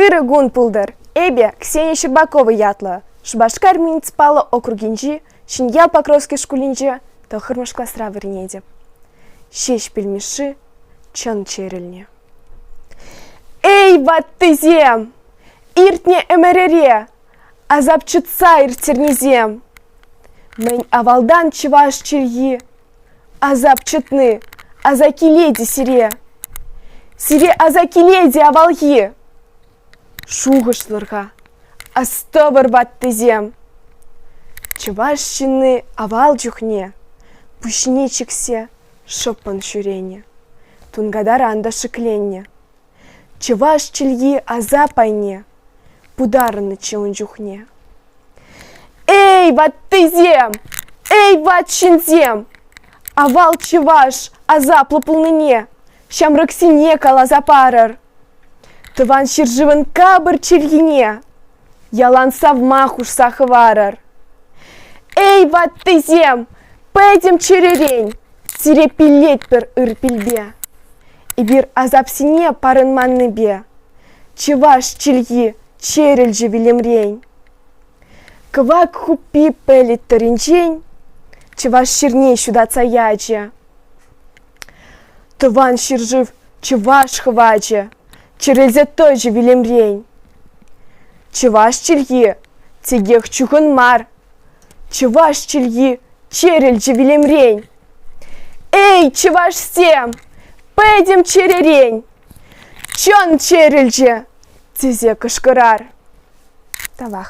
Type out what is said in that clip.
Ырӑ кун пултӑр эпӗ Ксения Щербакова ятлӑ Шупашкар муниципаллӑ округӗнчи Ҫӗньял Покровски шкулӗнче тӑххӑрмӗш класра вӗренетӗп. Ҫеҫпӗл Мишши чӑн чӗрӗлнӗ. Эй, ваттисем! Иртнӗ ӗмӗрӗре асап чӑтса ирттернисем! Мӗн авалтан чӑваш чӗлхи Азап чӑтни, аса килет-и сире? Сире аса килет-и авалхи? Шухӑшлӑр-ха, астӑвӑр ваттисем! Чӑваш ҫынни авал чухне пуҫне чиксе шӑппӑн ҫӳренӗ, тункатаран та шикленнӗ. Чӑваш чӗлхи асап айне путарӑннӑччӗ ун чухне. Эй, ваттисем! Эй, ват ҫынсем! Авал чӑваш асаплӑ пулнине ҫамрӑксене каласа парӑр. Тӑван ҫӗршывӑн капӑр чӗлхине Ялан савма хушса хӑварӑр. Эй, ваттисем, пӗтӗм чӗререн сире пиллетпӗр ырпилпе. Эпир асапсене парӑнманнипе чӑваш чӗлхи чӗрӗлчӗ вилӗмрен. Кӑвак хуппи пӗлӗт тӑринчен чӑваш ҫырне ҫутатса ячӗ. Тӑван ҫӗршыв чӑваш хӑвачӗ Чӗрӗлсе тӑчӗ вилӗмрен. Чӑваш чӗлхи текех чухӑн мар. Чӑваш чӗлхи чӗрӗлчӗ вилӗмрен. Эй, чӑвашсем, пӗтӗм чӗререн! Чӑн чӗрӗлчӗ! тесе кӑшкӑрар. Тавах.